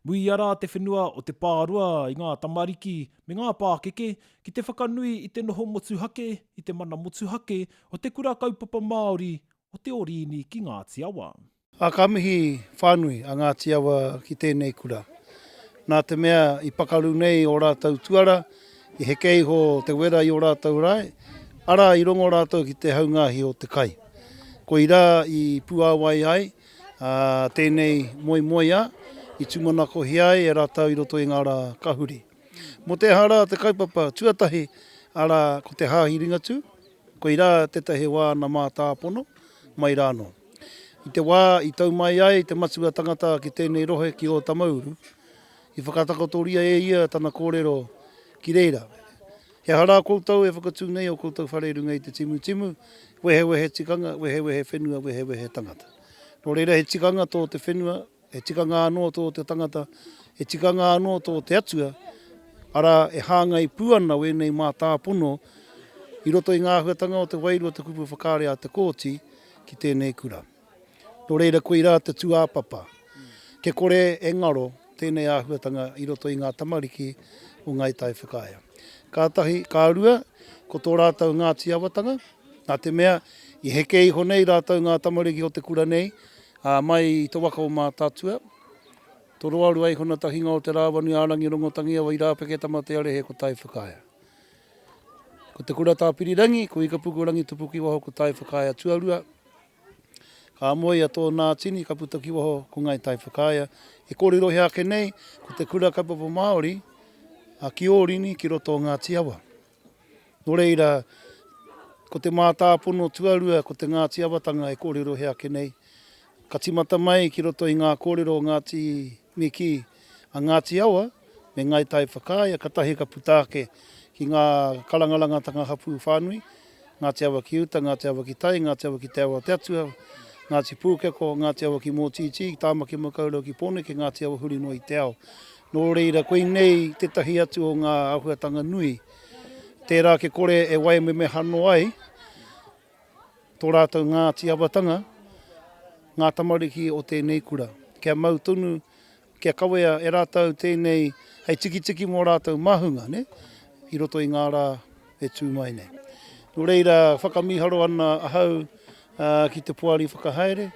Muia rā te whenua o te pāroa i ngā tamariki me ngā pākeke ki te whakanui i te noho motuhake, i te mana motuhake o te Kura Kaupapa Māori o Te Orīni ki Ngāti Awa. Ā, ka mihi whānui a Ngāti Awa ki tēnei kura. Nā te mea i pakaru nei ō rātou tuara, i heke iho te wera i ō rātou rae, arā, i rongo rātou ki te haungāhi o te kai. Koirā i puāwai ai, Ā, tēnei moemoeā i tūmanakohia ai e rātou i roto i ngā rā ka huri. Mō te aha rā te kaupapa tuatahi, arā, ko te Hāhi Ringatū? Koirā tētahi wā ana mātāpono, mai rānō. I te wā i tau mai ai te matua tangata ki tēnei rohe ki Ōtamauru, i whakatakotoria e ia tana kōrero ki reira. He aha rā koutou e whakatū nei ō koutou whare i runga i te timutimu, wehewehe tikanga, wehewehe whenua, wehewehe tangata? Nō reira, he tikanga tō te whenua, he tikanga anō tō te tangata, he tikanga anō tō te Atua, arā, e hāngai pū ana wēnei mātāpono i roto i ngā āhuatanga o te wairua o te kupu whakaari a Te Kooti ki tēnei kura. Nō reira koirā te tūāpapa. Kia kore e ngaro tēnei āhuatanga i roto i ngā tamariki o Ngāi Tai Whakaea. Ka tahi, ka rua, ko tō rātou Ngāti Awatanga, nā te mea i heke iho nei rātou ngā tamariki o te kura nei, ā, mai i te waka o Mātaatua, Toroarua iho na tahinga o Te Rāwanui a Rangi Rongotangiawa i Rāpeke Tamatearehe ko Tai Whakaea. Ko te kura Tāpirirangi, ko Ikapuku Rangitupukiwaho ko Tai Whakaea tuarua, Ka moe ia tō Nātini ka puta ki waho ko Ngāi Tai Whakaea e kōrerohia ake nei ko te kura kaupapa Māori a ki Ōrini ki roto o Ngāti Awa. Nō reira, ko te mātāpono tuarua ko te Ngāti Awatanga e kōrerohia ake nei, ka timata mai ki roto i ngā kōrero o Ngāti Miki a Ngāti Awa me Ngāi Tai Whakaea, katahi ka puta ake ki ngā karangarangatanga hapū whānui, Ngāti Awa ki uta, Ngāti Awa ki tai, Ngāti Awa ki te awa o te Atua, Ngāti Pūkeko, Ngāti Awa ki Mōtītī, Tāmaki Makaurau ki Pōneke, Ngāti Awa huri noa i te ao. Nō reira, koinei tētahi atu o ngā āhuatanga nui. Tērā ake kore e waimemehano ai tō rātou Ngāti Awatanga, ngā tamariki o tēnei kura. Kia mau tonu Kia kawea e rātou tēnei hei tikitiki mō rātou māhunga, nē, i roto i ngā rā e tū mai nei. Nō reira, whakamīharo ana ahau ki te poari whakahaere,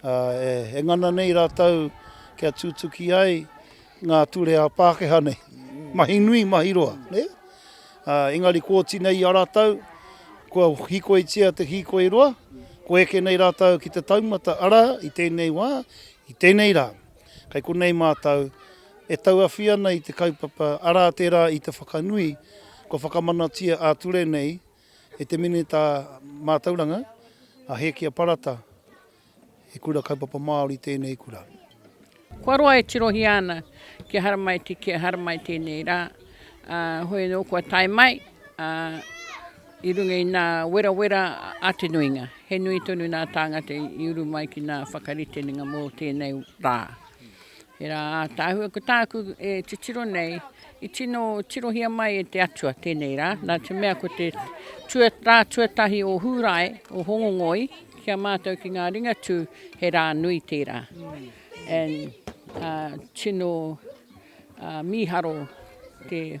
e ngana nei rātou kia tūtuki ai ngā ture a Pākehā nei. Mahi nui, mahi roa, nē? Engari kua oti nei i a rātou, kua hīkoitia te hīkoi roa, kua eke nei rātou ki te taumata, arā, i tēnei wā, I tēnei rā, kei konei mātou e tauawhi ana i te kaupapa, arā tērā i te whakanui kua whakamanatia ā-ture nei e te Minita Mātauranga, a Hēkia Parata, he kura kaupapa Māori tēnei kura. Kua roa e tirohia ana ki a Haramaiti, ki a Haramai tēnei rā, ā, hoi anō kua tae mai, ā. I runga i nā werawera a te nuinga, he nui tonu nā tāngata i uru mai ki nā whakaritenga mō tēnei rā. He rā ātaahua ko tāku e titiro nei, i tino tirohia mai e te Atua tēnei rā, nā te mea ko te tua, rā tuatahi o Hūrae, o Hongongoi, ki a mātou ki ngā Ringatū, he rā nui tērā. And uh, tino uh, mīharo te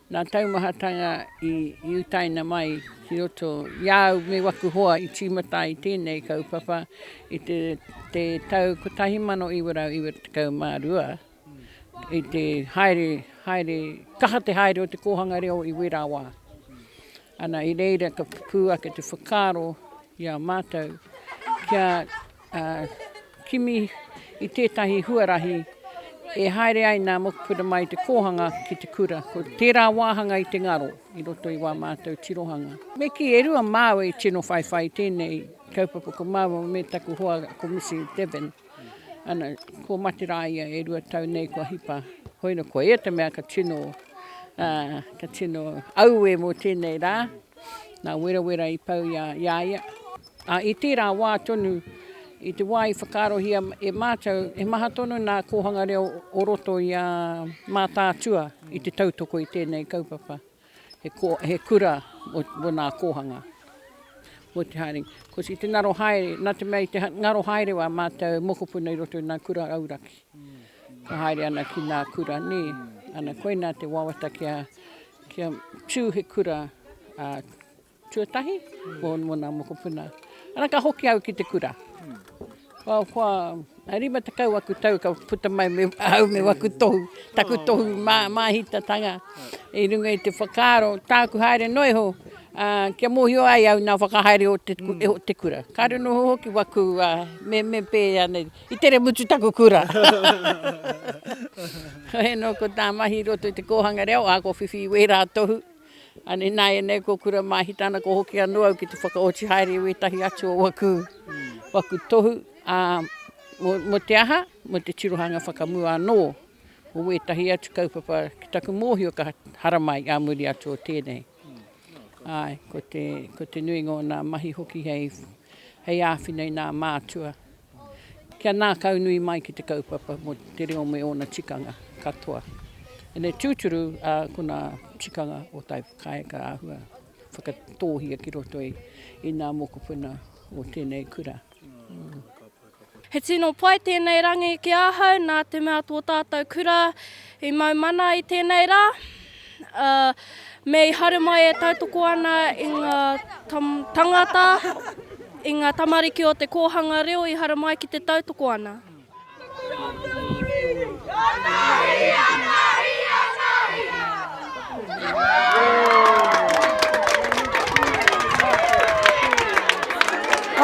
Ngā taumahatanga i utaina mai ki roto i a au me waku hoa i tīmata ai tēnei kaupapa i te te tau 1992 i te haere, haere, kaha te haere o te kōhanga reo i wērā wā. Ana i reira ka pupū ake te whakaaro i a mātou kia kimi i tētahi huarahi e haere ai nā mokopuna mai i te kōhanga ki te kura. Ko tērā wāhanga i te ngaro i roto i wā mātou tirohanga. Me kī, e rua māua i tino whaiwhai i tēnei kaupapa ko māua me taku hoa ko Misi Devon. Ana, ko Materā ia e rua tau nei kua hipa. Hoina, ko ia te mea ka tino, uh, ka tino aue mō tēnei rā. Nā Werawera i pau ia, ia ia. A, i tērā wā tonu, i te wā i whakaarohia e mātou, he maha tonu nā kōhanga reo o roto i a Mātaatua i te tautoko i tēnei kaupapa. He ko, he kura mo, mo nā kōhanga. Mo te haere. Ko si te ngaro haere, nā te mea i te ngaro haere wā mātou mokopuna i roto i nā kura auraki. Ka haere ana ki nā kura, nē. Ana koina te wawata kia, kia tū he kura, uh, Tuatahi, mō ngā mokopuna. Ana ka hoki au ki te kura. Kua, kua, a rima te kau aku tau ka puta mai me au me waku tohu, taku tohu mā, māhitatanga. I runga i te whakaaro, tāku haere noa iho, a, kia mōhio ai au nā whakahaere o te, mm. o te kura. Ka reno hoki waku, a, me, me pē anei, i tere mutu taku kura. Hei no ko tā mahi roto i te kōhanga reo, a ko whiwhi wērā tohu. Ināianei ko Kura Māhitana ko hoki anō au ki te whakaoti haere i wētahi atu o waku waku tohu, ā, mō, mō te aha? Mō te tirohanga whakamua anō o wētahi atu kaupapa ki taku mōhio ka haramai ā muri atu o tēnei. Āe, ko te, ko te nuinga o ngā mahi hoki hei, hei āwhina i ngā mātua. Kia ngākau nui mai ki te kaupapa mō te reo me ōna tikanga katoa. Ēnei tūturu a kona tikanga o tai whakaae ka āhua whakatōhia ki roto i ngā mokopuna o tēnei kura. He tino pai tēnei rangi ki ahau nā te mea tō tātou kura I mau mana i tēnei rā, ā, me i haere mai e tautoko ana i ngā tangata, i ngā tamariki o te kōhanga reo i haere mai ki te tautoko ana.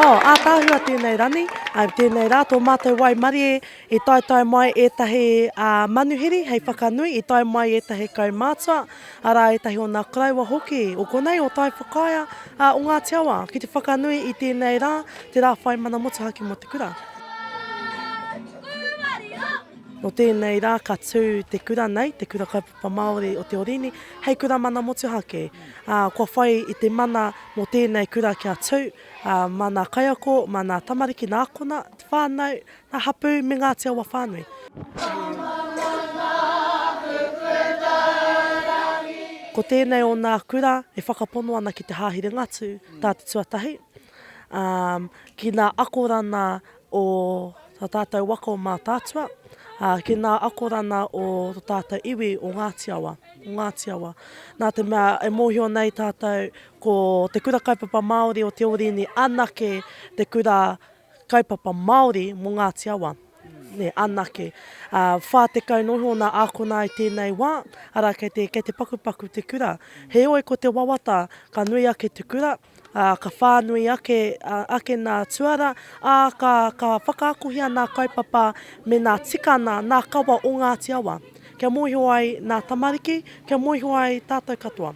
Oh, ātaahua tēnei ranei, ā, tēnei rā tō mātou waimarie. I taetae mai ētahi manuhiri hei whakanui, i tae mai ētahi kaumātua, arā ētahi o nā koroua hoki o konei o Tai Whakaea, ā, o Ngāti Awa, ki te whakanui i tēnei rā, te rā whai mana motuhake mō te kura. Nō tēnei rā ka tū te kura nei, te Kura Kaupapa Māori o Te Orīni, hei kura mana motuhake. Ā, kua whai i te mana mō tēnei kura kia tū, ā, mā nā kaiako, mā nā tamariki, nā kona whānau, Ngā hapū me Ngāti Awa whānui. Ko tēnei o nā kura e whakapono ana ki te Hāhi Ringatū tā te tuatahi, ā, ki nā akorana o tā tātou waka o Mātaatua, ā, ki nā akorana o tō tātou iwi o Ngāti Awa, o Ngāti Awa. Nā te mea e mōhio nei tātou ko te kura kaupapa Māori o Te Orini anake te kura Kaupapa Māori mō Ngāti Awa, anake. Ā, whā tekau noa iho ōna ākona i tēnei wā, arā, kei te, kei te pakupaku te kura. Heoi, ko te wawata, ka nui ake te kura, ā, ka whānui ake, ake nā tuara, ā, ka, ka whakaakohia nā kaupapa me nā tikana, nā kawa o Ngāti Awa, kia mōhio ai nā tamariki, kia mōhio ai tātou katoa.